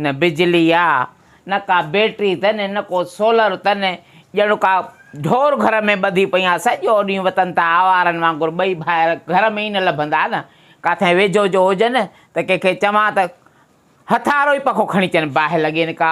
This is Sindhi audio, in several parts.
نه بجلي آ، نه ڪا بيٽري اٿن، نه ڪو سولر اٿن، ڄڻ ڪا ڍور گهر ۾ ٻڌي پئي آ، سڄو ڏينهن وتن ته آوارن وانگر ٻئي ڀائر گهر ۾ ئي نه لڀندا نه ڪاٿئين ويجهو جو هجن ته ڪنهن کي چوان ته هٿارو ئي پکو کڻي چن باهه لڳين ڪا.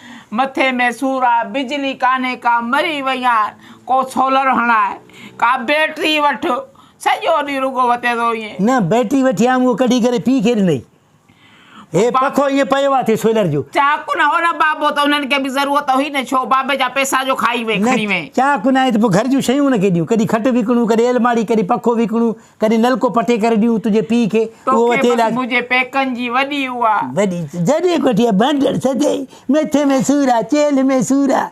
مٿي ۾ سور آ، بجلي ڪانهي ڪا مري وئي آ، ڪو سولر هڻاء، ڪا بيٽري وٺ، سڄو ڏينهن رڳو وتين ٿو وڃين. نه بيٽري وٺي آيم اهو ڪڍي ڪري پيء کي ڏنئي. هي پکو ائين پيو آ ٿي سولر جو. چا ڪونه هو نه بابو ته انهن کي به ضرورت هئي نه ڇو بابي جا پيسا جو کائي وئي کڻي وئي. نه چا ڪونه آهي ته پوء گهر جون شيون ان کي ڏيون ڪڏهن کٽ وڪڻون ڪڏهن الماڙي ڪڏهن پکو وڪڻون ڪڏهن نلڪو پٽي ڪري ڏيون تنهنجي پيء کي اهو توکي تيل بس آ منهنجي پيڪن جي وڏي اها وڏي جڏهن ڪوٺيء ڀنڊڙ سدي مٿي ۾ سور آ چيلهه ۾ سور آ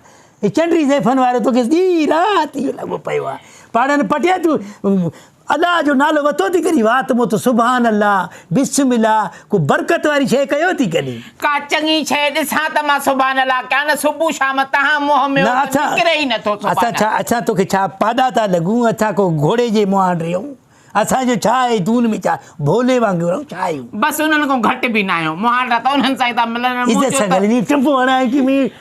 هي چنڊي زيفن وارو توکي ڏينهن رات اهو لڳو پيو آ پاڙن پٽيا تون ادا جو نالو وتو ٿي ڪرين وات موت سبحان الله بسم الله ڪو برڪت واري شيء ڪيو ٿي ڪڏهن؟ ڪا چڱي شيء ڏسان ته مان سبحان الله ڪيان نه صبح شام تنهان منهن ميون ته نڪري ئي نٿو سبحان الله. اسان ڇا اسان توکي ڇا پاڏا ٿا لڳون اسان ڪو گهوڙي جي مهانڊ رهيون اسان جو ڇا آهي تون ان ۾ ڇا ڀولي وانگر رهون ڇا آهيون. بس انهن کان گهٽ به نه آهيون مهانڊا ته انهن سان ئي ٿا ملن ۽ منهنجو ته.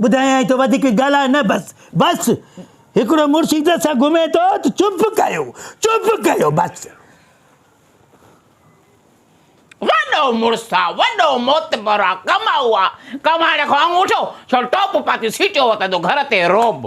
ٻڌايائين ته وڌيڪ ڳالهاء نه بس بس هڪڙو مرشد سان گهمي ٿو ته چپ ڪيو چپ ڪيو بس. وڏو مڙس آ وڏو معتبر آ ڪمائو آ ڪمائڻ کان اڱوٺو ڇو ٽوپ پاتي سيٽيو وتندو گهر تي روب.